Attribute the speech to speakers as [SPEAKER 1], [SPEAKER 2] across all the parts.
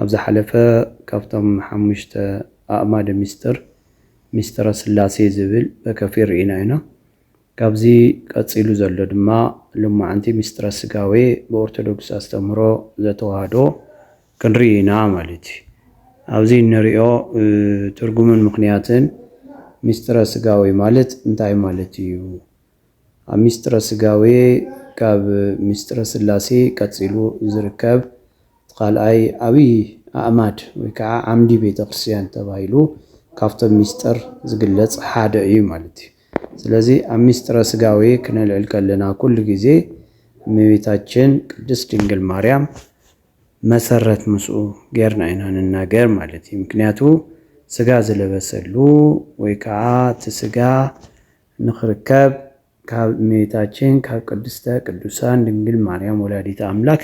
[SPEAKER 1] ኣብ ዝሓለፈ ካብቶም ሓሙሽተ ኣእማደ ምስጢር ምስጢረ ሥላሴ ዝብል በከፊል ርኢና ኢና። ካብዚ ቀጺሉ ዘሎ ድማ ሎማዓንቲ ምስጢረ ሥጋዌ ብኦርቶዶክስ ኣስተምህሮ ዘተዋህዶ ክንርኢ ኢና ማለት እዩ። ኣብዚ እንሪኦ ትርጉምን ምኽንያትን ምስጢረ ሥጋዌ ማለት እንታይ ማለት እዩ? ኣብ ሚስጥረ ሥጋዌ ካብ ሚስጥረ ሥላሴ ቀጺሉ ዚርከብ እቲ ካልኣይ ዓብይ ኣዕማድ ወይ ከዓ ዓምዲ ቤተ ክርስቲያን ተባሂሉ ካብቶም ሚስጥር ዚግለጽ ሓደ እዩ ማለት እዩ። ስለዚ ኣብ ሚስጥረ ሥጋዌ ክነልዕል ከለና ኩሉ ጊዜ እመቤታችን ቅድስት ድንግል ማርያም መሰረት ምስኡ ጌርና ኢና ንናገር ማለት እዩ። ምክንያቱ ሥጋ ዝለበሰሉ ወይ ከዓ እቲ ሥጋ ንኽርከብ ካብ እመቤታችን ካብ ቅድስተ ቅዱሳን ድንግል ማርያም ወላዲተ ኣምላክ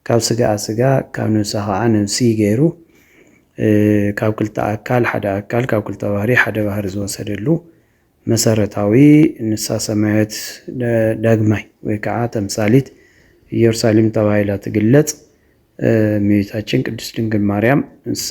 [SPEAKER 1] ካብ ስጋኣ ስጋ ካብ ነብሳ ኸኣ ነብሲ ገይሩ ካብ ክልተ ኣካል ሓደ ኣካል ካብ ክልተ ባህሪ ሓደ ባህሪ ዝወሰደሉ መሰረታዊ ንሳ ሰማያዊት ዳግማይ ወይ ከዓ ተምሳሊት ኢየሩሳሌም ተባሂላ ትግለጽ እመቤታችን ቅድስት ድንግል ማርያም ንሳ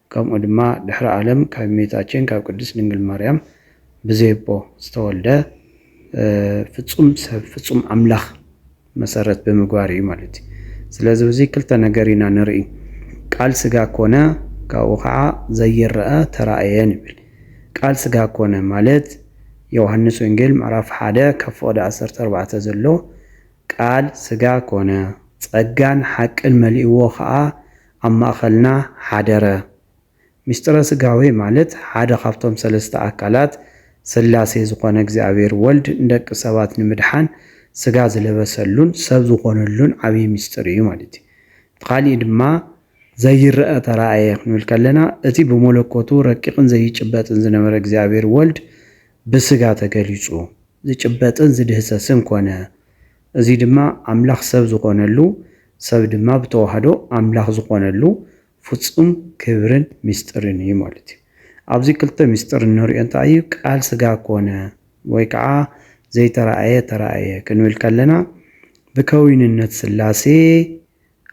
[SPEAKER 1] ከምኡ ድማ ድሕሪ ኣለም ካብ እሜታችን ካብ ቅድስት ድንግል ማርያም ብዘየቦ ዝተወልደ ፍጹም ሰብ ፍጹም ኣምላኽ መሰረት ብምግባር እዩ ማለት እዩ። ስለዚ ኣብዚ ክልተ ነገር ኢና ንርኢ ቃል ስጋ ኮነ ካብኡ ከዓ ዘይረኣ ተራእየ ንብል። ቃል ስጋ ኮነ ማለት ዮውሃንስ ወንጌል ምዕራፍ ሓደ ካብ ፍቅዲ ዓሰርተ ኣርባዕተ ዘሎ ቃል ስጋ ኮነ ጸጋን ሓቅን መሊእዎ ከዓ ኣብ ማእኸልና ሓደረ። ምስጢረ ሥጋዌ ማለት ሓደ ካብቶም ሠለስተ ኣካላት ሥላሴ ዝኾነ እግዚኣብሔር ወልድ ንደቂ ሰባት ንምድሓን ሥጋ ዝለበሰሉን ሰብ ዝኾነሉን ዓቢይ ምስጢር እዩ ማለት እዩ። ብኻሊእ ድማ ዘይረኣ ተራእየ ክንብል ከለና እቲ ብመለኮቱ ረቂቕን ዘይጭበጥን ዝነበረ እግዚኣብሔር ወልድ ብሥጋ ተገሊጹ ዝጭበጥን ዝድህሰስን ኮነ። እዚ ድማ ኣምላኽ ሰብ ዝኾነሉ፣ ሰብ ድማ ብተዋህዶ ኣምላኽ ዝኾነሉ ፍጹም ክብርን ምስጢርን እዩ ማለት እዩ። ኣብዚ ክልተ ምስጢር እንርእዮ እንታይ እዩ? ቃል ስጋ ኮነ ወይ ከኣ ዘይተራእየ ተራእየ ክንብል ከለና ብከዊንነት ስላሴ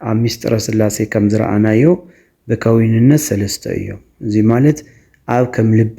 [SPEAKER 1] ኣብ ምስጢረ ስላሴ ከም ዝረኣናዮ ብከዊንነት ሰለስተ እዮም። እዚ ማለት ኣብ ከም ልቢ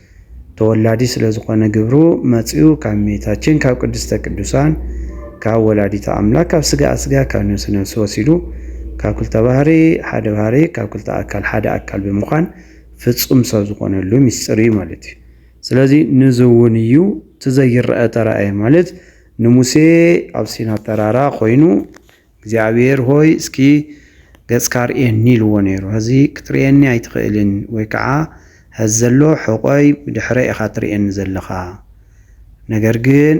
[SPEAKER 1] ተወላዲ ስለ ዝኾነ ግብሩ መጽዩ ካብ እመቤታችን ካብ ቅድስተ ቅዱሳን ካብ ወላዲተ ኣምላክ ካብ ስጋኣ ስጋ ካብ ነብሲ ነብሲ ወሲዱ ካብ ክልተ ባህሪ ሓደ ባህሪ ካብ ክልተ ኣካል ሓደ ኣካል ብምዃን ፍጹም ሰብ ዝኾነሉ ምስጢር እዩ ማለት እዩ። ስለዚ ንዚ እውን እዩ እቲ ዘይረኣ ተራእየ ማለት ንሙሴ ኣብ ሲና ተራራ ኮይኑ እግዚኣብሄር ሆይ እስኪ ገጽካ ርእየኒ ኢልዎ ነይሩ። ሐዚ ክትርእየኒ ኣይትኽእልን ወይ ከዓ ሐዚ ዘሎ ሕቆይ ብድሕረይ ኢኻ ትርእየኒ ዘለኻ ነገር ግን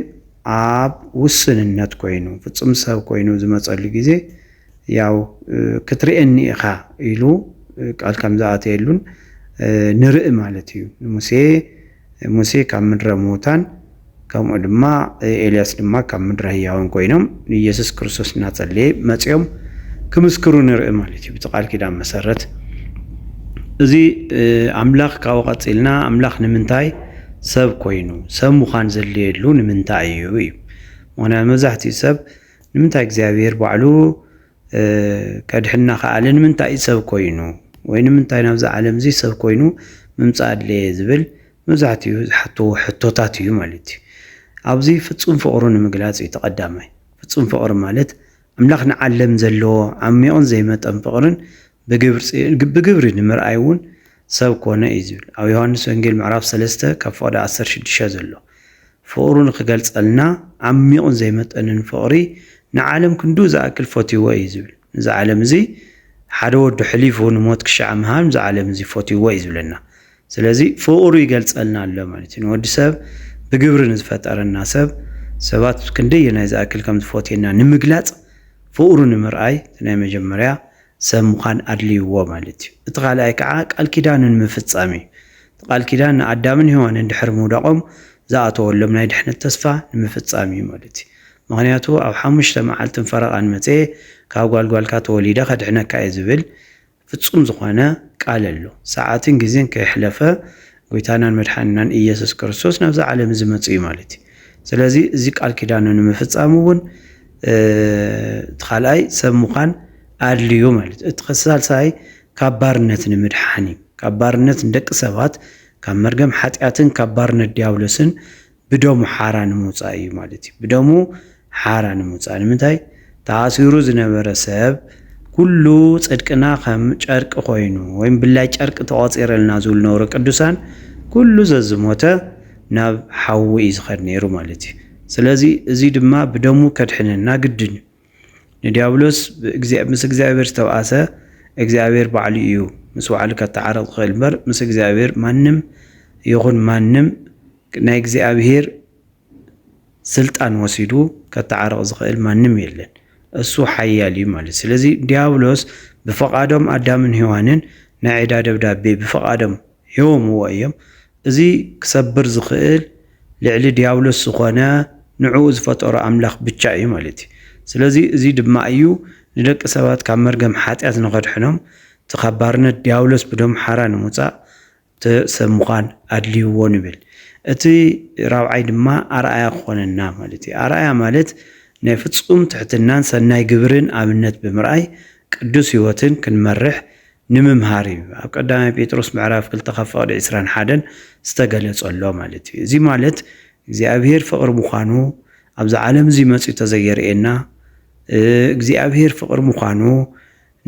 [SPEAKER 1] ኣብ ውስንነት ኮይኑ ፍፁም ሰብ ኮይኑ ዝመፀሉ ግዜ ያው ክትርእየኒ ኢኻ ኢሉ ቃል ከም ዝኣተየሉን ንርኢ ማለት እዩ። ንሙሴ ሙሴ ካብ ምድረ ምዉታን ከምኡ ድማ ኤልያስ ድማ ካብ ምድረ ህያዋን ኮይኖም ንኢየሱስ ክርስቶስ እናጸለየ መጺኦም ክምስክሩ ንርኢ ማለት እዩ ብቲ ቃል ኪዳን መሰረት እዚ ኣምላኽ ካብኡ ቀጺልና ኣምላኽ ንምንታይ ሰብ ኮይኑ ሰብ ምዃን ዘድልየሉ ንምንታይ እዩ እዩ ምክንያቱ መብዛሕትኡ ሰብ ንምንታይ እግዚኣብሔር ባዕሉ ከድሕና ከኣለ ንምንታይ እዩ ሰብ ኮይኑ ወይ ንምንታይ ናብዚ ዓለም እዚ ሰብ ኮይኑ ምምፃእ ኣድለየ ዝብል መብዛሕትኡ ዝሓትዎ ሕቶታት እዩ ማለት እዩ። ኣብዚ ፍፁም ፍቕሩ ንምግላፅ እዩ ተቐዳማይ። ፍፁም ፍቕሪ ማለት ኣምላኽ ንዓለም ዘለዎ ዓሚቕን ዘይመጠን ፍቕርን ብግብሪ ንምርኣይ እውን ሰብ ኮነ እዩ ዝብል ኣብ ዮሃንስ ወንጌል ምዕራፍ ሰለስተ ካብ ፍቕዲ ዓሰርተ ሽዱሽተ ዘሎ ፍቕሩ ንክገልጸልና ዓሚቑን ዘይመጠንን ፍቕሪ ንዓለም ክንድኡ ዝኣክል ፈትይዎ እዩ ዝብል ንዚ ዓለም እዚ ሓደ ወዱ ሕሊፉ ንሞት ክሻዕ ምሃብ ንዚ ዓለም እዚ ፈትይዎ እዩ ዝብለና ስለዚ ፍቕሩ ይገልጸልና ኣሎ ማለት እዩ ንወዲ ሰብ ብግብሪ ንዝፈጠረና ሰብ ሰባት ክንደየናይ ዝኣክል ከም ዝፈትየና ንምግላጽ ፍቕሩ ንምርኣይ ናይ መጀመርያ ሰብ ምዃን ኣድልይዎ ማለት እዩ። እቲ ካልኣይ ከዓ ቃል ኪዳኑ ንምፍፃም እዩ። እቲ ቃል ኪዳን ንኣዳምን ሄዋንን ድሕሪ ምውዳቖም ዝኣተወሎም ናይ ድሕነት ተስፋ ንምፍፃም እዩ ማለት እዩ። ምኽንያቱ ኣብ ሓሙሽተ መዓልትን ፈረቓን መፅየ ካብ ጓል ጓልካ ተወሊደ ከድሕነካ እየ ዝብል ፍፁም ዝኾነ ቃል ኣሎ። ሰዓትን ግዜን ከይሕለፈ ጎይታናን መድሓኒናን እየሱስ ክርስቶስ ናብዛ ዓለም እዚ መጹ እዩ ማለት እዩ። ስለዚ እዚ ቃል ኪዳኑ ንምፍጻም እውን እቲ ካልኣይ ሰብ ምዃን ኣድልዩ ማለት እዩ። እቲ ሳልሳይ ካብ ባርነት ንምድሓን እዩ። ካብ ባርነት ንደቂ ሰባት ካብ መርገም ሓጢኣትን ካብ ባርነት ዲያብሎስን ብደሙ ሓራ ንምውጻእ እዩ ማለት እዩ። ብደሙ ሓራ ንምውጻእ ንምንታይ ተኣሲሩ ዝነበረ ሰብ ኩሉ ጽድቅና ከም ጨርቂ ኮይኑ ወይም ብላይ ጨርቂ ተቆጺረልና ዝብሉ ነውረ ቅዱሳን ኩሉ ዘዝሞተ ናብ ሓዊ እዩ ዝኸድ ነይሩ ማለት እዩ። ስለዚ እዚ ድማ ብደሙ ከድሕነና ግድን እዩ። ንዲያብሎስ ምስ እግዚኣብሔር ዝተብኣሰ እግዚኣብሔር ባዕሉ እዩ ምስ ባዕሉ ከተዓርቕ ዝኽእል እምበር ምስ እግዚኣብሔር ማንም ይኹን ማንም ናይ እግዚኣብሔር ስልጣን ወሲዱ ከተዓርቕ ዝኽእል ማንም የለን። እሱ ሓያል እዩ ማለት ስለዚ ዲያብሎስ ብፈቓዶም ኣዳምን ሔዋንን ናይ ዕዳ ደብዳቤ ብፈቓዶም ሂቦምዎ እዮም። እዚ ክሰብር ዝኽእል ልዕሊ ድያብሎስ ዝኾነ ንዕኡ ዝፈጠሮ ኣምላኽ ብቻ እዩ ማለት እዩ። ስለዚ እዚ ድማ እዩ ንደቂ ሰባት ካብ መርገም ሓጢኣት ንኸድሕኖም እቲ ካብ ባርነት ድያብሎስ ብደሙ ሓራ ንምውጻእ እቲ ሰብ ምዃን ኣድልይዎ ንብል። እቲ ራብዓይ ድማ ኣርኣያ ክኾነና ማለት እዩ። ኣርኣያ ማለት ናይ ፍጹም ትሕትናን ሰናይ ግብርን ኣብነት ብምርኣይ ቅዱስ ሕይወትን ክንመርሕ ንምምሃር እዩ ኣብ ቀዳማይ ጴጥሮስ ምዕራፍ ክልተ ካብ ፍቕዲ ዕስራን ሓደን ዝተገለጸሎ ማለት እዩ። እዚ ማለት እግዚኣብሔር ፍቕሪ ምዃኑ ኣብዚ ዓለም እዚ መጺኡ ተዘየርእየና እግዚኣብሔር ፍቕሪ ምዃኑ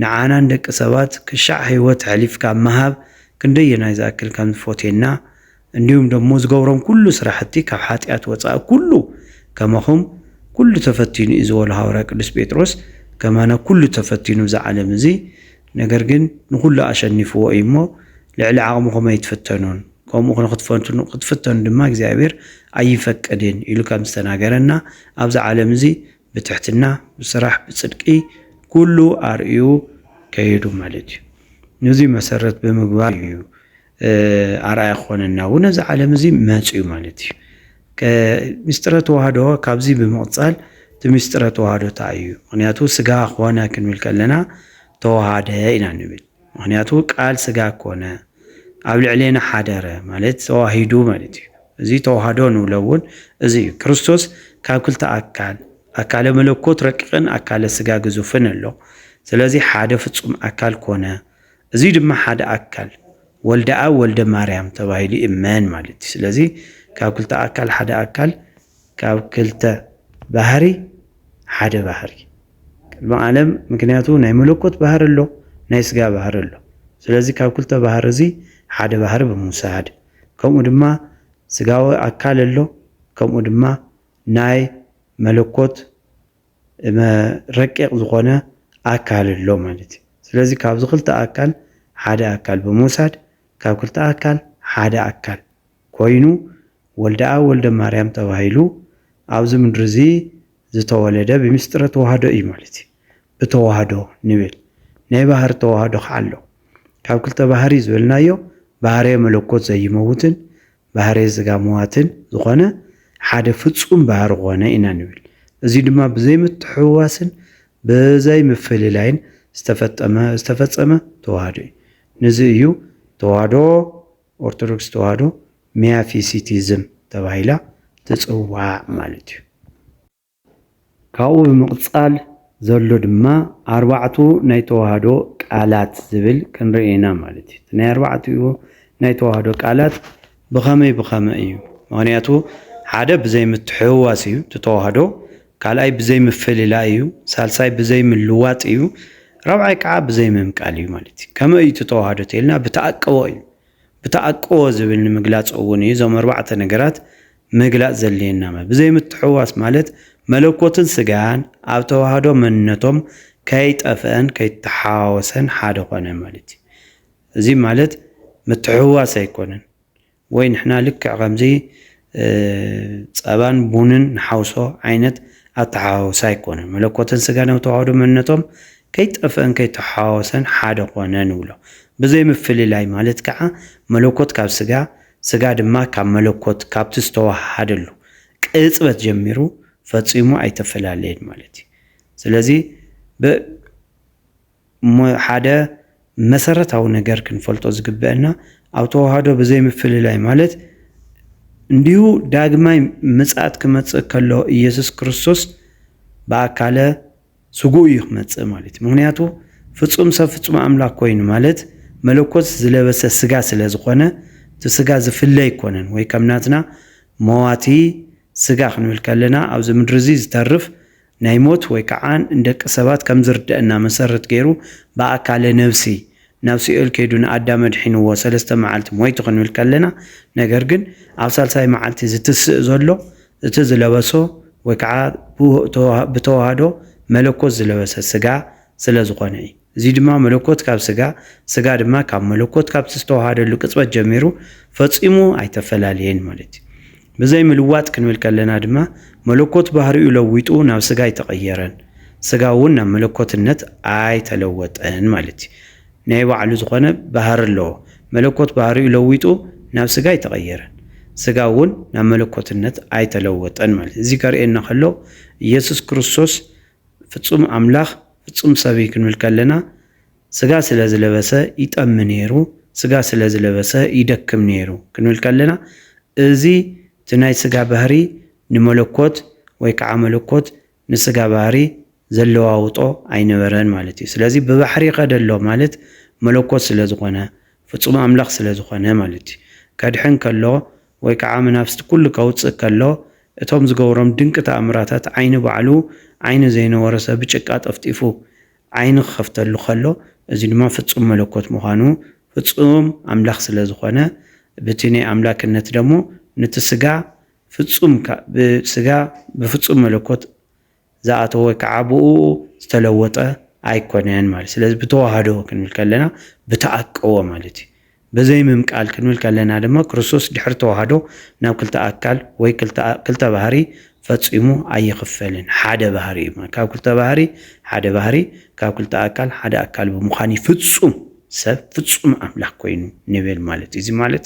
[SPEAKER 1] ንዓና ንደቂ ሰባት ክሻዕ ሕይወት ሐሊፍካ ምሃብ ክንደየናይ ዝኣክል ከም ዝፎትየና እንዲሁም ደሞ ዝገብሮም ኩሉ ስራሕቲ ካብ ሓጢኣት ወፃኢ ኩሉ ከማኹም ኩሉ ተፈቲኑ እዩ ዝበሎ ሃዋርያ ቅዱስ ጴጥሮስ ከማና ኩሉ ተፈቲኑ እዛ ዓለም እዚ ነገር ግን ንኹሉ ኣሸኒፍዎ እዩ እሞ ልዕሊ ዓቕምኹም ኣይትፍተኑን ከምኡ ንክትፈትኑ ክትፍተኑ ድማ እግዚኣብሔር ኣይፈቅድን ኢሉ ከም ዝተናገረና ኣብዚ ዓለም እዚ ብትሕትና ብስራሕ ብፅድቂ ኩሉ ኣርእዩ ከይዱ ማለት እዩ። ነዚ መሰረት ብምግባር እዩ ኣርኣያ ክኾነና እውን ኣብዚ ዓለም እዚ መፅዩ ማለት እዩ። ምስጢረ ተዋህዶ ካብዚ ብምቕፃል እቲ ምስጢረ ተዋህዶ እንታይ እዩ? ምክንያቱ ስጋ ኮነ ክንብል ከለና ተዋሃደ ኢና ንብል። ምክንያቱ ቃል ስጋ ኮነ ኣብ ልዕሌና ሓደረ ማለት ተዋሂዱ ማለት እዩ። እዚ ተዋህዶ ንብሎ እውን እዚ እዩ። ክርስቶስ ካብ ክልተ ኣካል ኣካለ መለኮት ረቂቕን ኣካለ ስጋ ግዙፍን ኣሎ። ስለዚ ሓደ ፍጹም ኣካል ኮነ። እዙይ ድማ ሓደ ኣካል ወልደኣብ ወልደ ማርያም ተባሂሉ ይእመን ማለት እዩ። ስለዚ ካብ ክልተ ኣካል ሓደ ኣካል፣ ካብ ክልተ ባህሪ ሓደ ባህሪ ቅድሚ ዓለም። ምክንያቱ ናይ መለኮት ባህሪ ኣሎ፣ ናይ ስጋ ባህሪ ኣሎ። ስለዚ ካብ ክልተ ባህሪ እዚ ሓደ ባህሪ ብምውሳድ ከምኡ ድማ ስጋዊ ኣካል ኣሎ ከምኡ ድማ ናይ መለኮት ረቂቕ ዝኾነ ኣካል ኣሎ ማለት እዩ። ስለዚ ካብዚ ክልተ ኣካል ሓደ ኣካል ብምውሳድ ካብ ክልተ ኣካል ሓደ ኣካል ኮይኑ ወልደኣብ ወልደማርያም ተባሂሉ ኣብዚ ምድሪ እዚ ዝተወለደ ብምስጢረ ተዋህዶ እዩ ማለት እዩ። ብተዋህዶ ንብል ናይ ባህሪ ተዋህዶ ከዓ ኣሎ። ካብ ክልተ ባህሪ ዝበልናዮ ባህርየ መለኮት ዘይመውትን ባህርይ ስጋ ምዋትን ዝኾነ ሓደ ፍጹም ባህሪ ኮነ ኢና ንብል። እዚ ድማ ብዘይ ምትሕውዋስን ብዘይ ምፍልላይን ዝተፈጠመ ዝተፈጸመ ተዋህዶ እዩ። ንዚ እዩ ተዋህዶ ኦርቶዶክስ ተዋህዶ ሚያፊሲቲዝም ተባሂላ ትጽዋዕ ማለት እዩ። ካብኡ ብምቕጻል ዘሎ ድማ ኣርባዕቱ ናይ ተዋህዶ ቃላት ዝብል ክንርኢ ኢና ማለት እዩ። እቲ ናይ ኣርባዕቲኡ ናይ ተዋህዶ ቃላት ብኸመይ ብኸመይ እዩ? ምክንያቱ ሓደ ብዘይ ምትሕውዋስ እዩ እቲ ተዋህዶ፣ ካልኣይ ብዘይ ምፍልላይ እዩ፣ ሳልሳይ ብዘይ ምልዋጥ እዩ፣ ራብዓይ ከዓ ብዘይ ምምቃል እዩ ማለት እዩ። ከመይ እዩ እቲ ተዋህዶ ተይልና ብተኣቅቦ እዩ። ብተኣቅቦ ዝብል ንምግላጽ እውን እዩ እዞም ኣርባዕተ ነገራት ምግላፅ ዘድልየና ማለት ብዘይምትሕውዋስ ማለት መለኮትን ስጋን ኣብ ተዋህዶ መንነቶም ከይጠፍአን ከይተሓዋወሰን ሓደ ኮነ ማለት እዩ። እዚ ማለት ምትሕውዋስ ኣይኮነን ወይ ንሕና ልክዕ ከምዚ ፀባን ቡንን ንሓውሶ ዓይነት ኣተሓዋውሳ ኣይኮነን። መለኮትን ስጋን ኣብ ተዋህዶ መንነቶም ከይጠፍአን ከይተሓዋወሰን ሓደ ኮነ ንብሎ። ብዘይምፍልላይ ማለት ከዓ መለኮት ካብ ስጋ ስጋ ድማ ካብ መለኮት ካብቲ ዝተወሃሃደሉ ቅጽበት ጀሚሩ ፈጺሙ ኣይተፈላለየን ማለት እዩ። ስለዚ ብ ሓደ መሰረታዊ ነገር ክንፈልጦ ዝግበእና ኣብ ተወሃዶ ብዘይ ምፍልላይ ማለት እንዲሁ ዳግማይ ምጽኣት ክመጽእ ከሎ ኢየሱስ ክርስቶስ ብኣካለ ስጉኡ እዩ ክመጽእ ማለትዩ ምክንያቱ ፍጹም ሰብ ፍጹም ኣምላክ ኮይኑ ማለት መለኮት ዝለበሰ ስጋ ስለ ዝኮነ እቲ ስጋ ዝፍለ ኣይኮነን ወይ ከም ናትና መዋቲ ስጋ ክንብል ከለና ኣብዚ ምድሪ እዚ ዝተርፍ ናይ ሞት ወይ ከዓ ንደቂ ሰባት ከም ዝርደእና መሰረት ገይሩ ብኣካለ ነብሲ ናብ ሲኦል ከይዱ ንኣዳም ኣድሒንዎ ሰለስተ መዓልቲ ሞይቱ ክንብል ከለና ነገር ግን ኣብ ሳልሳይ መዓልቲ ዝትስእ ዘሎ እቲ ዝለበሶ ወይ ከዓ ብተዋህዶ መለኮት ዝለበሰ ስጋ ስለ ዝኾነ እዩ። እዙይ ድማ መለኮት ካብ ስጋ፣ ስጋ ድማ ካብ መለኮት ካብቲ ዝተዋሃደሉ ቅፅበት ጀሚሩ ፈፂሙ ኣይተፈላለየን ማለት እዩ። ብዘይ ምልዋጥ ክንብል ከለና ድማ መለኮት ባህሪኡ ለዊጡ ናብ ስጋ ኣይተቐየረን፣ ስጋ እውን ናብ መለኮትነት ኣይተለወጠን ማለት እዩ። ናይ ባዕሉ ዝኾነ ባህሪ ኣለዎ። መለኮት ባህሪኡ ለዊጡ ናብ ስጋ ኣይተቐየረን። ስጋ እውን ናብ መለኮትነት ኣይተለወጠን ማለት እዩ። እዚ ከርእየና ከሎ ኢየሱስ ክርስቶስ ፍጹም ኣምላኽ ፍጹም ሰብ እዩ ክንብል ከለና ስጋ ስለ ዝለበሰ ይጠሚ ነይሩ፣ ስጋ ስለ ዝለበሰ ይደክም ነይሩ ክንብል ከለና እዚ እቲ ናይ ስጋ ባህሪ ንመለኮት ወይ ከዓ መለኮት ንስጋ ባህሪ ዘለዋውጦ ኣይነበረን ማለት እዩ። ስለዚ ብባሕሪ ከደ ኣሎ ማለት መለኮት ስለ ዝኾነ፣ ፍጹም ኣምላኽ ስለ ዝኾነ ማለት እዩ። ከድሕን ከሎ ወይ ከኣ መናፍስቲ ኩሉ ከውጽእ ከሎ እቶም ዝገብሮም ድንቂ ተኣምራታት ዓይኒ ባዕሉ ዓይኒ ዘይነበሮ ሰብ ብጭቃ ጠፍጢፉ ዓይኒ ክኸፍተሉ ከሎ እዚ ድማ ፍጹም መለኮት ምዃኑ ፍጹም ኣምላኽ ስለ ዝኾነ ብቲ ናይ ኣምላክነት ደሞ ንቲ ስጋ ፍጹም ብስጋ ብፍጹም መለኮት ዝኣተወ ወይ ከዓ ብእኡ ዝተለወጠ ኣይኮነን ማለት እዩ። ስለዚ ብተዋህዶ ክንብል ከለና ብተኣቀወ ማለት እዩ። በዘይምምቃል ክንብል ከለና ድማ ክርስቶስ ድሕሪ ተዋህዶ ናብ ክልተ ኣካል ወይ ክልተ ባህሪ ፈጺሙ ኣይኽፈልን። ሓደ ባህሪ እዩ። ካብ ክልተ ባህሪ ሓደ ባህሪ፣ ካብ ክልተ ኣካል ሓደ ኣካል ብምዃን እዩ ፍጹም ሰብ ፍጹም ኣምላኽ ኮይኑ ንብል ማለት እዩ። እዚ ማለት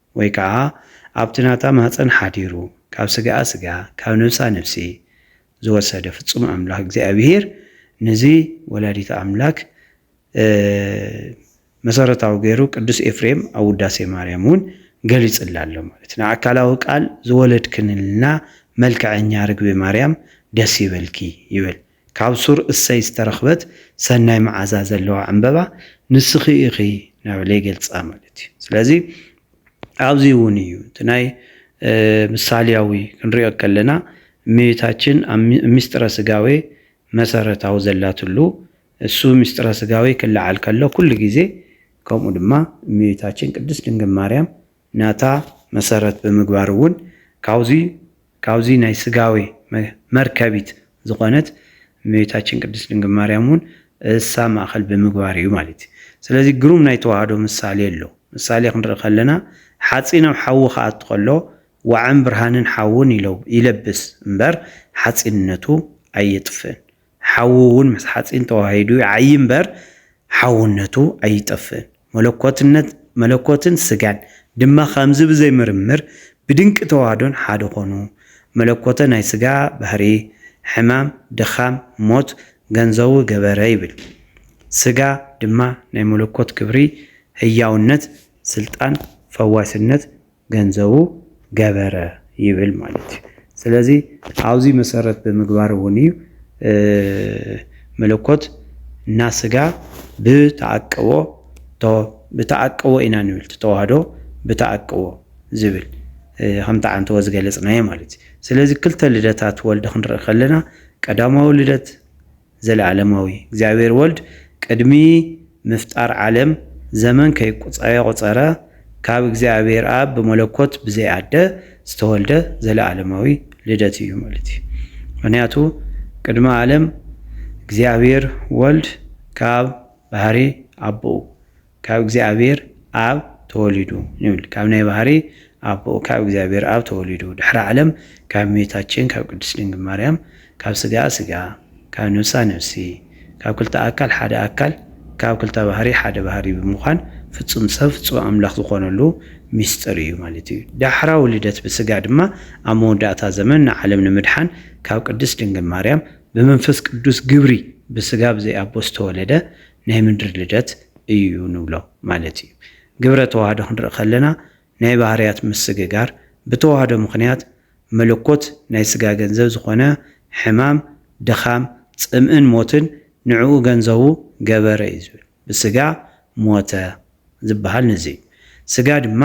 [SPEAKER 1] ወይ ከኣ ኣብቲ ናታ ማህጸን ሓዲሩ ካብ ስጋኣ ስጋ ካብ ነብሳ ነብሲ ዝወሰደ ፍጹም ኣምላክ እግዚኣብሄር ንዚ ወላዲተ ኣምላክ መሰረታዊ ገይሩ ቅዱስ ኤፍሬም ኣብ ውዳሴ ማርያም እውን ገሊጽላ ኣሎ ማለት ንኣካላዊ ቃል ዝወለድክንልና መልክዐኛ ርግቢ ማርያም ደስ ይበልኪ ይብል። ካብ ሱር እሰይ ዝተረኽበት ሰናይ መዓዛ ዘለዋ ዕምበባ ንስኺ ኢኺ ናበለ ይገልጻ ማለት እዩ። ስለዚ ኣብዚ እውን እዩ እቲ ናይ ምሳልያዊ ክንሪኦ ከለና እመቤታችን ኣብ ምስጢረ ስጋዌ መሰረታዊ ዘላትሉ እሱ ምስጢረ ስጋዌ ክለዓል ከሎ ኩሉ ግዜ ከምኡ ድማ እመቤታችን ቅድስት ድንግል ማርያም ናታ መሰረት ብምግባር እውን ካብዙይ ካብዙይ ናይ ስጋዌ መርከቢት ዝኾነት እመቤታችን ቅድስት ድንግል ማርያም እውን እሳ ማእኸል ብምግባር እዩ ማለት እዩ። ስለዚ ግሩም ናይ ተዋህዶ ምሳሌ ኣሎ። ምሳሌ ክንርኢ ከለና ሓፂን ኣብ ሓዊ ክኣቱ ከሎ ዋዕን ብርሃንን ሓውን ይለብስ እምበር ሓፂንነቱ ኣየጥፍእን። ሓዊ እውን ምስ ሓጺን ተዋሂዱ ይዓዪ እምበር ሓውነቱ ኣይጠፍእን። መለኮትነት መለኮትን ስጋን ድማ ከምዚ ብዘይ ምርምር ብድንቂ ተዋህዶን ሓደ ኮኑ። መለኮተ ናይ ስጋ ባህሪ ሕማም፣ ድኻም፣ ሞት ገንዘዉ ገበረ ይብል። ስጋ ድማ ናይ መለኮት ክብሪ ህያውነት፣ ስልጣን፣ ፈዋስነት፣ ገንዘቡ ገበረ ይብል ማለት እዩ። ስለዚ ኣብዚ መሰረት ብምግባር እውን እዩ መለኮት እና ስጋ ብተዓቅቦ ብተዓቅቦ ኢና ንብል ተዋህዶ ብተዓቅቦ ዝብል ከምቲ ዓንተወ ዝገለፅናዮ ማለት እዩ። ስለዚ ክልተ ልደታት ወልድ ክንርኢ ከለና ቀዳማዊ ልደት ዘለኣለማዊ እግዚኣብሔር ወልድ ቅድሚ ምፍጣር ዓለም ዘመን ከይቆጸረ ካብ እግዚኣብሔር ኣብ ብመለኮት ብዘይ ኣደ ዝተወልደ ዘለኣለማዊ ልደት እዩ ማለት እዩ። ምክንያቱ ቅድሚ ኣለም እግዚኣብሔር ወልድ ካብ ባህሪ ኣቦኡ ካብ እግዚኣብሔር ኣብ ተወሊዱ ንብል ካብ ናይ ባህሪ ኣቦኡ ካብ እግዚኣብሔር ኣብ ተወሊዱ ድሕሪ ዓለም ካብ እመቤታችን ካብ ቅድስት ድንግል ማርያም ካብ ስጋኣ ስጋ ካብ ነፍሳ ነፍሲ ካብ ክልተ ኣካል ሓደ ኣካል ካብ ክልተ ባህሪ ሓደ ባህሪ ብምዃን ፍጹም ሰብ ፍጹም ኣምላኽ ዝኾነሉ ምስጢር እዩ ማለት እዩ። ዳሕራዊ ልደት ብስጋ ድማ ኣብ መወዳእታ ዘመን ንዓለም ንምድሓን ካብ ቅድስት ድንግል ማርያም ብመንፈስ ቅዱስ ግብሪ ብስጋ ብዘይ ኣቦ ዝተወለደ ናይ ምድሪ ልደት እዩ ንብሎ ማለት እዩ። ግብረ ተዋህዶ ክንርኢ ከለና ናይ ባህርያት ምስግጋር ብተዋህዶ ምኽንያት መለኮት ናይ ስጋ ገንዘብ ዝኾነ ሕማም፣ ድኻም፣ ጽምእን ሞትን ንዕኡ ገንዘቡ ገበረ እዩ ዝብል። ብስጋ ሞተ ዝበሃል ነዚ እዩ። ስጋ ድማ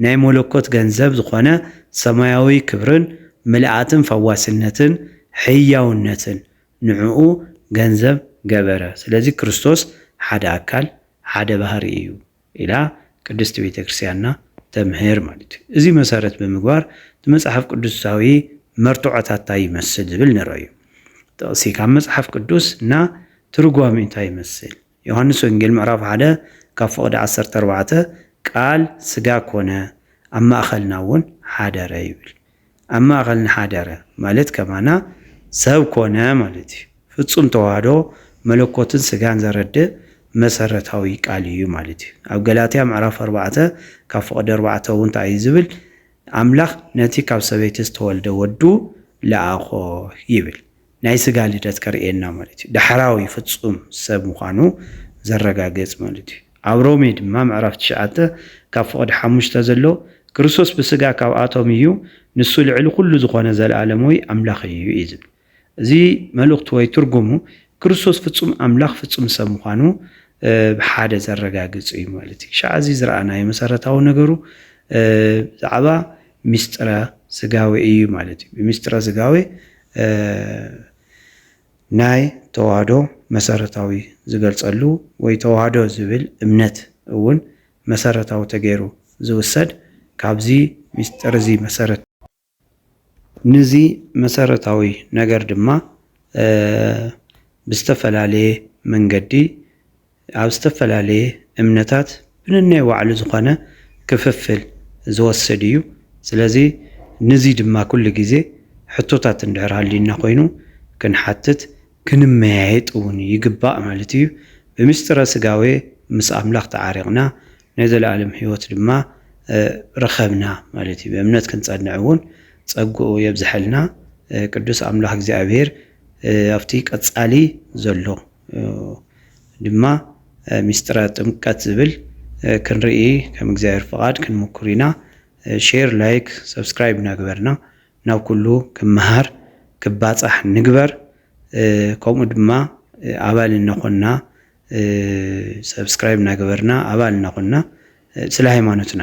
[SPEAKER 1] ናይ መለኮት ገንዘብ ዝኾነ ሰማያዊ ክብርን ምልኣትን ፈዋስነትን ሕያውነትን ንዕኡ ገንዘብ ገበረ፣ ስለዚ ክርስቶስ ሓደ ኣካል ሓደ ባህሪ እዩ ኢላ ቅድስት ቤተ ክርስቲያንና ተምህር ማለት እዩ። እዚ መሰረት ብምግባር እቲ መጽሓፍ ቅዱሳዊ መርትዖታት እንታይ ይመስል ዝብል ንርእዩ። ጥቕሲ ካብ መጽሓፍ ቅዱስ እና ትርጓሜኡ እንታይ ይመስል? ዮሃንስ ወንጌል ምዕራፍ ሓደ ካብ ፍቕዲ ዓሰርተ ኣርባዕተ ቃል ስጋ ኮነ ኣብ ማእኸልና እውን ሓደረ ይብል። ኣብ ማእኸልና ሓደረ ማለት ከማና ሰብ ኮነ ማለት እዩ። ፍፁም ተዋህዶ መለኮትን ስጋን ዘረድእ መሰረታዊ ቃል እዩ ማለት እዩ። ኣብ ገላትያ ምዕራፍ ኣርባዕተ ካብ ፍቕዲ ኣርባዕተ እውን ታይ እዩ ዝብል ኣምላኽ ነቲ ካብ ሰበይቲ ዝተወልደ ወዱ ለኣኾ ይብል። ናይ ስጋ ልደት ከርእየና ማለት እዩ። ዳሕራዊ ፍጹም ሰብ ምዃኑ ዘረጋግጽ ማለት እዩ። ኣብ ሮሜ ድማ ምዕራፍ ትሽዓተ ካብ ፍቕዲ ሓሙሽተ ዘሎ ክርስቶስ ብስጋ ካብኣቶም እዩ ንሱ ልዕሊ ኩሉ ዝኾነ ዘለኣለምዊ ኣምላኽ እዩ እዩ ዝብል። እዚ መልእኽቱ ወይ ትርጉሙ ክርስቶስ ፍጹም ኣምላኽ ፍጹም ሰብ ምዃኑ ብሓደ ዘረጋግጽ እዩ ማለት እዩ። ክሻዕ እዚ ዝረኣናዮ መሰረታዊ ነገሩ ብዛዕባ ምስጢረ ስጋዌ እዩ ማለት እዩ። ብምስጢረ ስጋዌ ናይ ተዋህዶ መሰረታዊ ዝገልፀሉ ወይ ተዋህዶ ዝብል እምነት እውን መሰረታዊ ተገይሩ ዝውሰድ ካብዚ ምስጢር እዚ መሰረት ንዚ መሰረታዊ ነገር ድማ ብዝተፈላለየ መንገዲ ኣብ ዝተፈላለየ እምነታት ብነናይ ባዕሉ ዝኾነ ክፍፍል ዝወስድ እዩ። ስለዚ ንዙይ ድማ ኩሉ ግዜ ሕቶታት እንድሕር ሃልዩና ኮይኑ ክንሓትት ክንመያየጥ እውን ይግባእ ማለት እዩ። ብምሥጢረ ሥጋዌ ምስ ኣምላኽ ተዓሪቕና ናይ ዘለዓለም ሕይወት ድማ ረኸብና ማለት እዩ። ብእምነት ክንጸንዕ እውን ጸግኡ የብዝሐልና ቅዱስ ኣምላኽ እግዚኣብሔር ኣብቲ ቀጻሊ ዘሎ። ድማ ሚስጥረ ጥምቀት ዝብል ክንርኢ ከም እግዚኣብሔር ፍቃድ ክንምኩር ኢና ሼር ላይክ ሰብስክራይብ እናገበርና ናብ ኩሉ ክመሃር ክባፃሕ ንግበር ከምኡ ድማ ኣባል እናኮና ሰብስክራይብ እናገበርና ኣባል እናኮና ስለ ሃይማኖትና